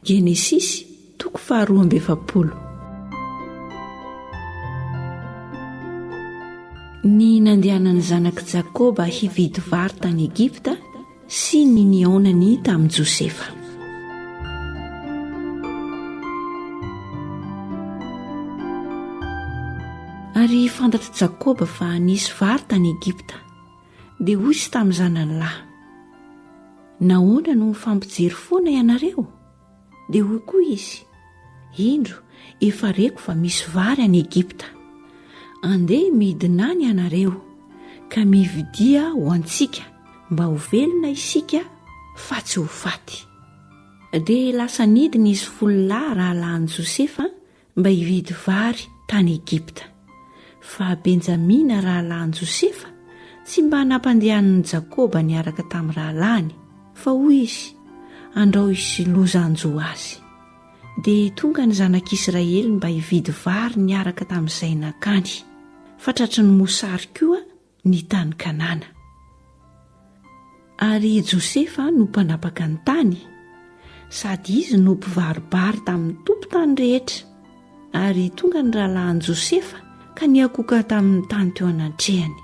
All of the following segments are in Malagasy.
Genesisy toko faharoa amby efapolo. Ny nandehanan'ny zanak'i Jakoba hividy vary tany Egypta sy ny nihaonany tamin'i Josefa. Ary fantatr'i Jakoba fa nisy vary tany Egypta. Dia hoy izy tamin'ny zanany lahy, Nahoana no mifampijery foana ianareo? Dia hoy koa izy, Indro, efa reko fa misy vary any Egypta. Andeha midina any ianareo, ka mividia ho antsika, mba ho velona isika fa tsy ho faty. Dia lasa nidina izy folo lahy rahalahin'i Josefa mba hividy vary tany Egypta. Fa Benjamina rahalahin-Josefa tsy mba nampandehanin'i Jakoba niaraka tamin'ny rahalahiny, fa hoy izy, Andrao hisy loza hanjo azy. Dia tonga ny zanak'Israely mba hividy vary niaraka tamin'izay nankany. Fa tratry ny mosary koa ny tany Kanana. Ary i Josefa no mpanapaka ny tany, sady izy no mpivaribary tamin'ny tompon-tany rehetra. Ary tonga ny rahalahin'i Josefa ka niakoka tamin'ny tany teo anantrehany.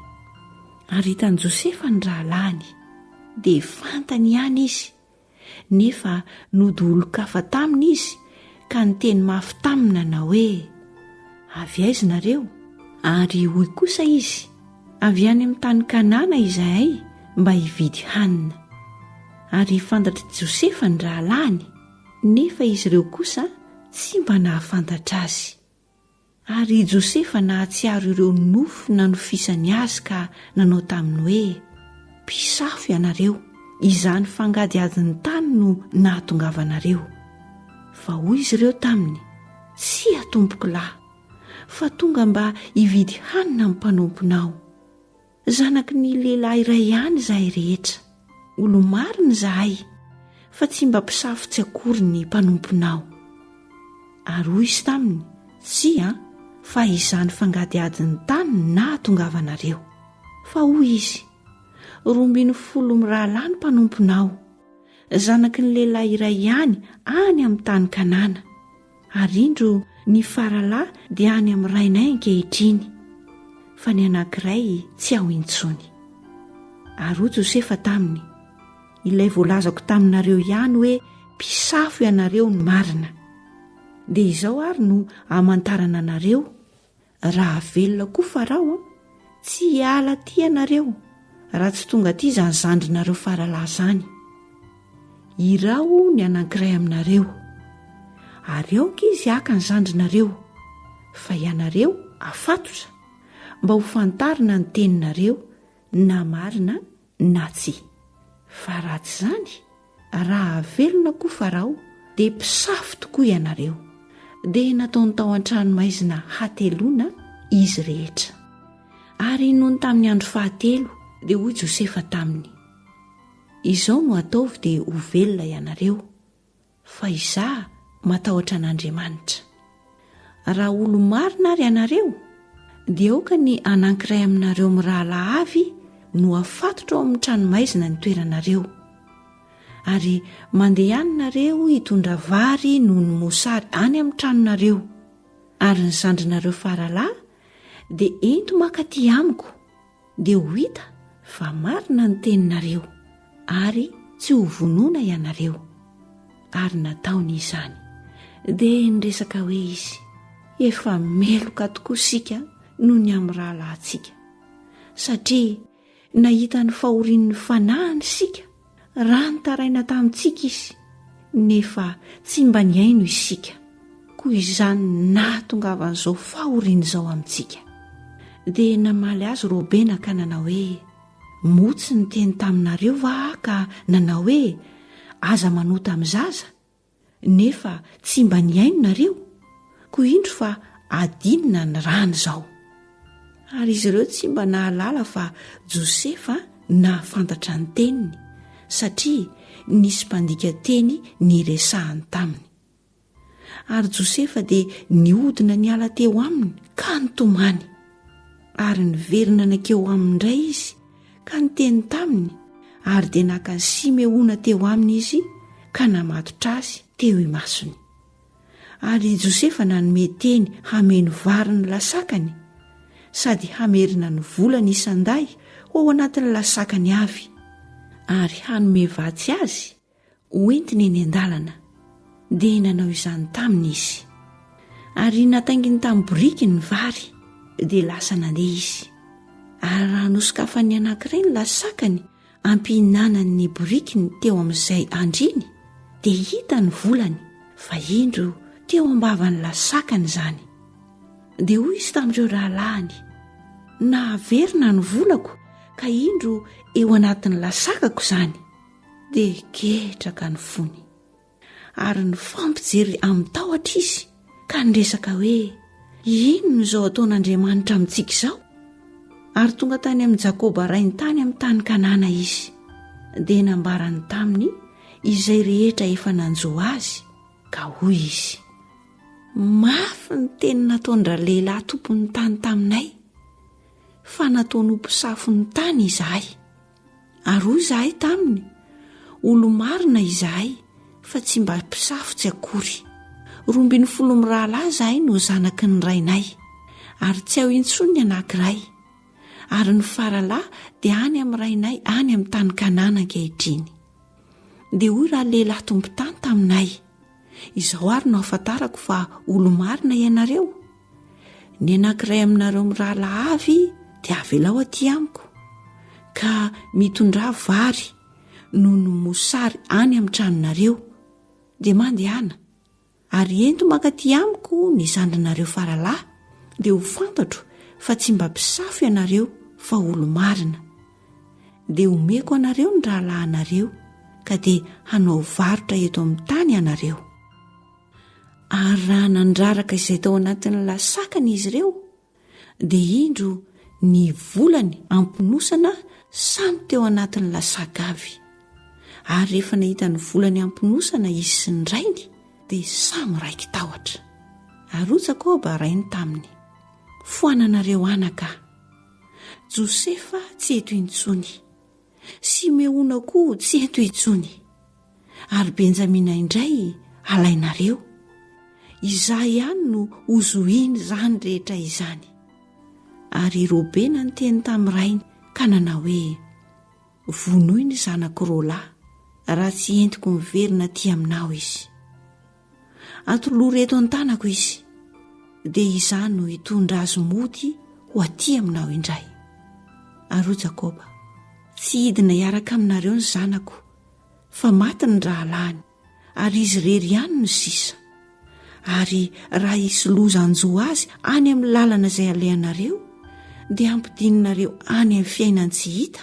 Ary hitan'i Josefa ny rahalahiny, dia fantany ihany izy nefa nody olon-kafa taminy izy ka niteny mafy taminy nanao hoe, Avy aiza ianareo? Ary hoy kosa izy, Avy any amin'ny tany Kanana izahay mba hividy hanina. Ary fantatr'i Josefa ny rahalahiny, nefa izy ireo kosa tsy mba nahafantatra azy. Ary i Josefa nahatsiaro ireo nofy nanofisany azy ka nanao taminy hoe, Mpisafo ianareo, izany fangadihadin'ny tany no nahatongavanareo. Fa hoy izy ireo taminy, Tsia, tompokolahy, fa tonga mba hividy hanina ny mpanomponao. Zanaky ny lehilahy iray ihany izahay rehetra. Olo-marina izahay, fa tsy mba mpisafotsy akory ny mpanomponao. Ary hoy izy taminy, Tsia, fa izany fangadihadin'ny tany no nahatongavanareo. Fa hoy izy, Roa ambin'ny folo mirahalahy ny mpanomponao, zanaky ny lehilahy iray ihany any amin'ny tany Kanana. Ary indro ny faralahy dia any amin'ny rainay ankehitriny, fa ny anankiray tsy ao intsony. Ary hoy Josefa taminy, Ilay voalazako taminareo ihany hoe mpisafo ianareo no marina. Dia izao ary no hamantarana anareo, Raha velona koa Farao tsy hiala aty ianareo raha tsy tonga aty izany zandrinareo faralahy izany. Iraho ny anankiray aminareo, ary aoka izy haka ny zandrinareo, fa ianareo afatotra, mba hofantarina ny teninareo na marina na tsia. Fa raha tsy izany, raha havelona koa Farao, dia mpisafo tokoa ianareo. Dia nataony tao an-tranomaizina hateloana izy rehetra. Ary nony tamin'ny andro fahatelo, dia hoy Josefa taminy, Izao no ataovy dia ho velona ianareo, Fa izaho matahotra an'Andriamanitra. Raha olo-marina ary ianareo, dia aoka ny anankiray aminareo mirahalahy avy no hafatotra ao amin'ny tranomaizina ny toeranareo. Ary mandeha any nareo hitondra vary noho ny mosary any amin'ny tranonareo, ary ny zandrinareo faralahy dia ento mankaty amiko. dia ho hita fa marina ny teninareo ary tsy ho vonona ianareo. Ary nataony izany. Dia niresaka hoe izy, Efa meloka tokoa isika noho ny amin'ny rahalahintsika, satria nahita ny fahorian'ny fanahiny isika raha nitaraina tamintsika izy nefa tsy mba nihaino isika, koa izany nahatongavan'izao fahoriana izao amintsika. Dia namaly azy Robena ka nanao hoe, Moa tsy niteny taminareo va aho ka nanao hoe, Aza manota amin'ny zaza? nefa tsy mba nihaino nareo koa indro fa adinina ny rany izao ary izy ireo tsy mba nahalala fa josefa nahafantatra ny teniny satria nisy mpandika teny ny resahany taminy ary josefa dia nihodina ny ala teo aminy ka nitomany ary niverina nakeo aminy indray izy ka niteny taminy ary dia naka an'i Simeona teo aminy izy ka namatotra azy teo imasony. Ary i Josefa nanome teny hameno vary ny lasakany sady hamerina ny volany isan-dahy ho ao anatin'ny lasakany avy ary hanome vatsy azy ho entiny eny an-dalana, dia nanao izany taminy izy. Ary natainginy tamin'ny boriky ny vary, dia lasa nandeha izy. Ary raha nosokafan'ny anankiray ny lasakany hampihinanany ny borikiny teo amin'izay andriany, dia hita ny volany fa indro teo am-bavan'ny lasakany izany. Dia hoy izy tamin'ireo rahalahiny, Nahaverina ny volako, ka indro eo anatin'ny lasakako izany. dia ketraka ny fony ary nifampijery amin-tahotra izy ka niresaka hoe inona izao ataon'Andriamanitra amintsika izao ary tonga tany amin'i Jakoba rainy tany amin'ny tany Kanana izy dia nambarany taminy izay rehetra efa nanjo azy ka hoy izy mafy ny teny nataon-dralehilahy tompon'ny tany taminay fa nataony ho mpisafo ny tany izahay Ary hoy izahay taminy, Olo-marina izahay, fa tsy mba mpisafotsy akory. Roa ambin'ny folo mirahalahy izahay no zanaky ny rainay, ary tsy ao intsony ny anankiray. Ary ny faralahy dia any amin'ny rainay any amin'ny tany Kanana ankehitriny. Dia hoy ralehilahy tompon-tany taminay, Izao àry no ahafantarako fa olo-marina ianareo, Ny anankiray aminareo mirahalahy avy dia avelao aty amiko, ka mitondrà vary noho ny mosary any amin'ny tranonareo, dia mandehana, ary ento mankaty amiko ny zandrinareo faralahy, dia ho fantatro fa tsy mba mpisafo ianareo fa olo-marina. Dia homeko anareo ny rahalahinareo, ka dia hanao varotra eto amin'ny tany ianareo. Ary raha nandraraka izay tao anatin'ny lasakany izy ireo, dia indro ny volany amponosana samy teo anatin'ny lasaka avy. Ary rehefa nahita ny volany amponosana izy sy ny rainy, dia samy raiki-tahotra. Ary hoy Jakoba rainy taminy, Foananareo anaka. Josefa tsy eto intsony. Simeona koa tsy eto intsony. Ary Benjamina indray alainareo. Izaho ihany no hozohina izany rehetra izany. Ary i Robena niteny tamin'ny rainy ka nanao hoe, Vonoy ny zanako roa lahy, raha tsy entiko miverina aty aminao izy. Atolory eto an-tanako izy, dia izaho no hitondra azy mody ho aty aminao indray. Ary hoy Jakoba, Tsy hidina hiaraka aminareo ny zanako, fa maty ny rahalahiny, ary izy irery ihany no sisa. Ary raha hisy loza hanjo azy any amin'ny lalana izay alehanareo, dia hampidininareo any amin'ny fiainan-tsy hita